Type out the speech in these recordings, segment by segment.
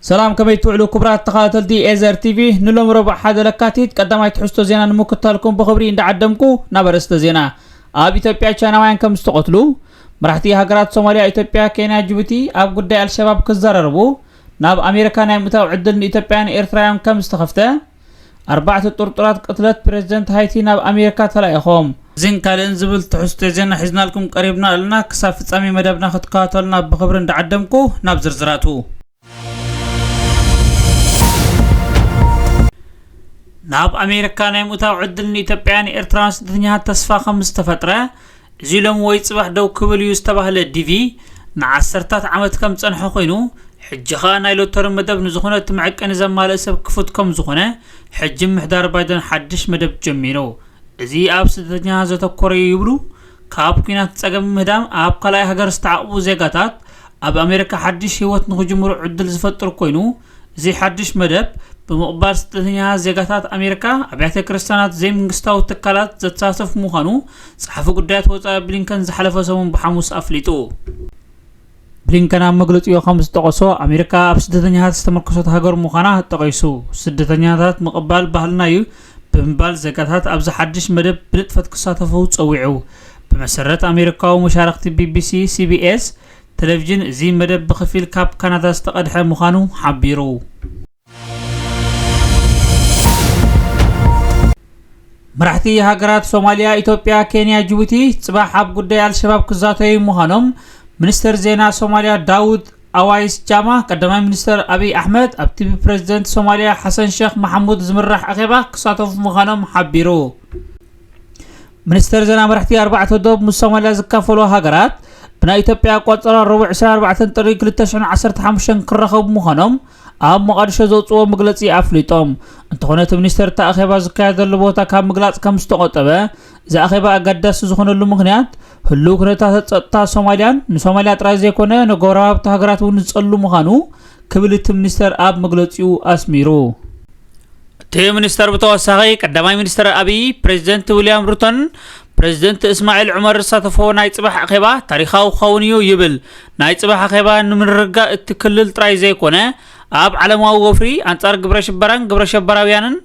ሰላም ከመይ ትውዕሉ ክቡራት ተኸታተልቲ ኤዘር ቲቪ ንሎም ረቡዕ ሓደ ለካቲት ቀዳማይ ትሕዝቶ ዜና ንምክታልኩም ብኽብሪ እንዳዓደምኩ ናብ ኣርእስተ ዜና ኣብ ኢትዮጵያ ቻይናውያን ከም ዝተቐትሉ መራሕቲ ሃገራት ሶማልያ ኢትዮጵያ ኬንያ ጅቡቲ ኣብ ጉዳይ ኣልሸባብ ክዘራረቡ ናብ ኣሜሪካ ናይ ምእታው ዕድል ንኢትዮጵያን ኤርትራውያን ከም ዝተኸፍተ ኣርባዕተ ጥርጡራት ቅትለት ፕረዚደንት ሃይቲ ናብ ኣሜሪካ ተላኢኾም። እዚን ካልእን ዝብል ትሕዝቶ ዜና ሒዝናልኩም ቀሪብና ኣለና። ክሳብ ፍጻሜ መደብና ክትከታተሉና ብኽብሪ እንዳዓደምኩ፣ ናብ ዝርዝራቱ። ናብ ኣሜሪካ ናይ ምእታው ዕድል ንኢትዮጵያውያን ኤርትራውያን ስደተኛታት ተስፋ ከምዝተፈጥረ፣ እዚ ሎሚ ወይ ጽባሕ ደው ክብል እዩ ዝተባህለ ዲቪ፣ ንዓሰርታት ዓመት ከም ዝጸንሐ ኮይኑ፣ ሕጂ ከኣ ናይ ሎተሪ መደብ ንዝኾነ እቲ መዐቀኒ ዘማልእ ሰብ ክፉት ከም ዝኾነ፣ ሕጂ ምምሕዳር ባይደን ሓድሽ መደብ ጀሚሩ። እዚ ኣብ ስደተኛታት ዘተኮረ እዩ ይብሉ፣ ካብ ኲናት ጸገም ምህዳም ኣብ ካልኣይ ሃገር ዝተዓቝቡ ዜጋታት ኣብ ኣሜሪካ ሓድሽ ህይወት ንኽጅምሩ ዕድል ዝፈጥር ኮይኑ፣ እዚ ሓድሽ መደብ፣ ብምቕባል ስደተኛታት ዜጋታት ኣሜሪካ፣ ኣብያተ ክርስትያናት ዘይምንግስታዊ ትካላት ዘተሳትፍ ምዃኑ ጸሓፊ ጉዳያት ወጻኢ ብሊንከን ዝሓለፈ ሰሙን ብሓሙስ ኣፍሊጡ። ብሊንከን ኣብ መግለጺኡ ከም ዝጠቐሶ፣ ኣሜሪካ ኣብ ስደተኛታት ዝተመርኮሰት ሃገር ምዃና ጠቒሱ፣ ስደተኛታት ምቕባል ባህልና እዩ ብምባል ዜጋታት ኣብዚ ሓድሽ መደብ ብንጥፈት ክሳተፉ ጸዊዑ። ብመሰረት ኣሜሪካዊ መሻርኽቲ ቢቢሲ ሲቢኤስ፣ ተለቪዥን እዚ መደብ ብኽፊል ካብ ካናዳ ዝተቐድሐ ምዃኑ ሓቢሩ። መራሕቲ ሃገራት ሶማልያ ኢትዮጵያ ኬንያ ጅቡቲ ጽባሕ ኣብ ጉዳይ ኣልሸባብ ክዛተዩ ምዃኖም ሚኒስተር ዜና ሶማልያ ዳውድ ኣዋይስ ጃማ ቀዳማይ ሚኒስተር ኣብይ ኣሕመድ ኣብቲ ብፕረዚደንት ሶማልያ ሓሰን ሸክ መሓሙድ ዝምራሕ ኣኼባ ክሳተፉ ምዃኖም ሓቢሩ ሚኒስተር ዜና መራሕቲ ኣርባዕተ ዶብ ምስ ሶማልያ ዝካፈለዋ ሃገራት ብናይ ኢትዮጵያ ኣቋፅራ ረቡዕ 24 ጥሪ 2015 ክራኸቡ ምዃኖም ኣብ መቓድሾ ዘውፅዎ መግለፂ ኣፍሊጦም እንተኾነ እቲ ሚኒስተር እቲ ኣኼባ ዝካየደሉ ቦታ ካብ ምግላፅ ከም ዝተቖጠበ እዚ ኣኼባ ኣገዳሲ ዝኾነሉ ምኽንያት ህልው ኩነታት ፀጥታ ሶማልያን ንሶማልያ ጥራይ ዘይኮነ ንጎረባብቲ ሃገራት እውን ዝፀሉ ምዃኑ ክብል እቲ ሚኒስተር ኣብ መግለፂኡ ኣስሚሩ እቲ ሚኒስተር ብተወሳኺ ቀዳማይ ሚኒስተር ኣብይ፣ ፕረዚደንት ዊልያም ሩቶን ፕረዚደንት እስማዒል ዑመር ዝሳተፍዎ ናይ ጽባሕ ኣኼባ ታሪኻዊ ክኸውን እዩ ይብል። ናይ ጽባሕ ኣኼባ ንምርግጋእ እቲ ክልል ጥራይ ዘይኮነ ኣብ ዓለማዊ ወፍሪ ኣንጻር ግብረ ሽበራን ግብረ ሸበራውያንን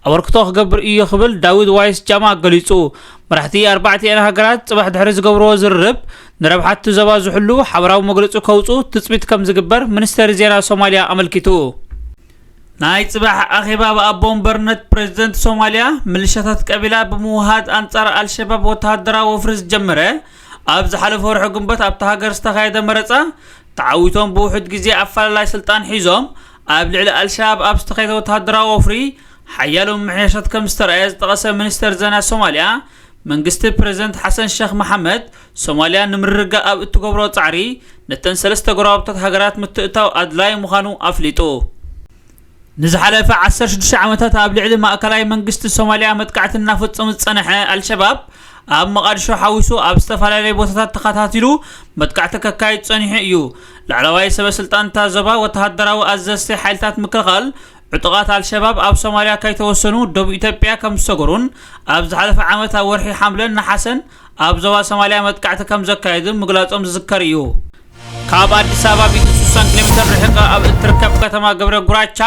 ኣበርክቶ ክገብር እዩ ክብል ዳዊድ ዋይስ ጃማ ገሊጹ። መራሕቲ ኣርባዕቲኤን ሃገራት ጽባሕ ድሕሪ ዝገብርዎ ዝርርብ ንረብሓቲ ዞባ ዝሕሉ ሓበራዊ መግለጺ ከውጽኡ ትጽቢት ከም ዝግበር ሚኒስተሪ ዜና ሶማልያ ኣመልኪቱ። ናይ ፅባሕ ኣኼባ ብኣቦ ወንበርነት ፕረዚደንት ሶማሊያ ምልሻታት ቀቢላ ብምውሃድ ኣንፃር ኣልሸባብ ወተሃደራዊ ወፍሪ ዝጀመረ ኣብ ዝሓለፈ ወርሒ ግንቦት ኣብታ ሃገር ዝተኻየደ መረፃ ተዓዊቶም ብውሑድ ግዜ ኣፈላላይ ስልጣን ሒዞም ኣብ ልዕሊ ኣልሸባብ ኣብ ዝተኻየደ ወተሃደራዊ ወፍሪ ሓያሎ ምምሕያሻት ከምዝተርኣየ ዝጠቐሰ ሚኒስተር ዜና ሶማሊያ መንግስቲ ፕረዚደንት ሓሰን ሸኽ መሓመድ ሶማልያ ንምርግጋእ ኣብ እትገብሮ ጻዕሪ፣ ነተን ሰለስተ ጎረባብታት ሃገራት ምትእትታው ኣድላዪ ምዃኑ ኣፍሊጡ። ንዝሓለፈ ዓሰርተ ሽዱሽተ ዓመታት ኣብ ልዕሊ ማእከላይ መንግስቲ ሶማልያ መጥቃዕቲ እናፈጸሙ ዝጸንሐ ኣልሸባብ፣ ኣብ መቓድሾ ሓዊሱ ኣብ ዝተፈላለየ ቦታታት ተኸታቲሉ መጥቃዕቲ ከካይድ ጸኒሑ እዩ። ላዕለዋይ ሰበስልጣን እታ ዞባ፣ ወተሃደራዊ ኣዘዝቲ ሓይልታት ምክልኻል፣ ዕጡቓት ኣልሸባብ ኣብ ሶማልያ ከይተወሰኑ ደቡብ ኢትዮጵያ ከምዝሰገሩን ኣብ ዝሓለፈ ዓመት ኣብ ወርሒ ሓምለን ነሓሰን ኣብ ዞባ ሶማልያ መጥቃዕቲ ከም ዘካየዱን ምግላፆም ዝዝከር እዩ። ካብ ኣዲስ ኣበባ ቢቲ 60 ኪሎ ሜትር ርሒቐ ኣብ እትርከብ ከተማ ገብረ ጉራቻ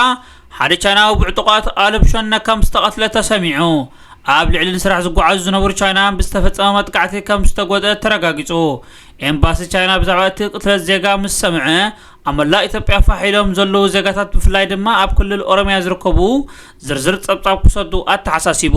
ሓደ ቻይናዊ ብዕጡቓት ኣልብ ሸነ ከም ዝተቐትለ ተሰሚዑ። ኣብ ልዕሊ ንስራሕ ዝጓዓዙ ዝነበሩ ቻይናውያን ብዝተፈጸመ መጥቃዕቲ ከም ዝተጎድኣ ተረጋጊጹ። ኤምባሲ ቻይና ብዛዕባ እቲ ቅትለት ዜጋ ምስ ሰምዐ ኣብ መላእ ኢትዮጵያ ፋሕ ኢሎም ዘለዉ ዜጋታት ብፍላይ ድማ ኣብ ክልል ኦሮሚያ ዝርከቡ ዝርዝር ጸብጻብ ክሰዱ ኣተሓሳሲቡ።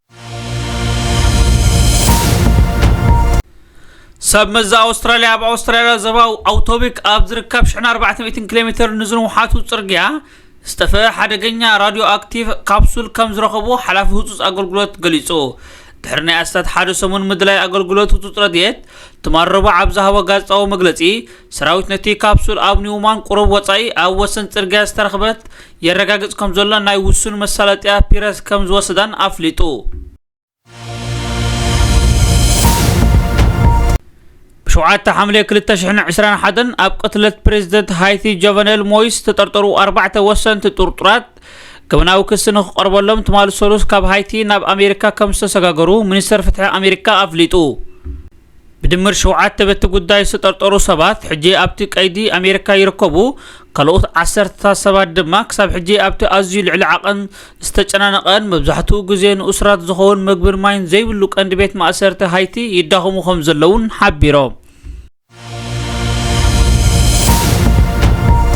ሰብ መዚ ኣውስትራልያ ኣብ ኣውስትራልያ ዘባው ኣውቶቢክ ኣብ ዝርከብ 400 ኪሎ ሜተር ንዝንውሓቱ ጽርግያ ዝተፈ ሓደገኛ ራድዮ ኣክቲቭ ካፕሱል ከም ዝረኸቡ ሓላፊ ህፁፅ ኣገልግሎት ገሊጹ ድሕሪ ናይ ኣስታት ሓደ ሰሙን ምድላይ ኣገልግሎት ህፁፅ ረድኤት ትማረቡ ኣብ ዝሃቦ ጋዜጣዊ መግለጺ ሰራዊት ነቲ ካፕሱል ኣብ ኒውማን ቁሩብ ወጻኢ ኣብ ወሰን ጽርግያ ዝተረኽበት የረጋግጽ ከምዘሎ ናይ ውሱን መሳለጥያ ፒረስ ከም ዝወሰዳን ኣፍሊጡ። ሸውዓተ ሓምለ ክልተ ሽሕን ዕስራን ሓደን ኣብ ቅትለት ፕሬዚደንት ሃይቲ ጆቨነል ሞይስ ዝተጠርጠሩ ኣርባዕተ ወሰንቲ ጥርጡራት ገበናዊ ክሲ ንክቐርበሎም ትማሊ ሰሉስ ካብ ሃይቲ ናብ ኣሜሪካ ከም ዝተሰጋገሩ ሚኒስተር ፍትሒ ኣሜሪካ ኣፍሊጡ ብድምር ሸውዓተ በቲ ጉዳይ ዝተጠርጠሩ ሰባት ሕጂ ኣብቲ ቀይዲ ኣሜሪካ ይርከቡ፣ ካልኦት ዓሰርተታት ሰባት ድማ ክሳብ ሕጂ ኣብቲ ኣዝዩ ልዕሊ ዓቐን ዝተጨናነቐን መብዛሕትኡ ግዜ ንእሱራት ዝኸውን መግብን ማይን ዘይብሉ ቀንዲ ቤት ማእሰርቲ ሃይቲ ይዳኸሙ ከምዘለዉን ሓቢሮም።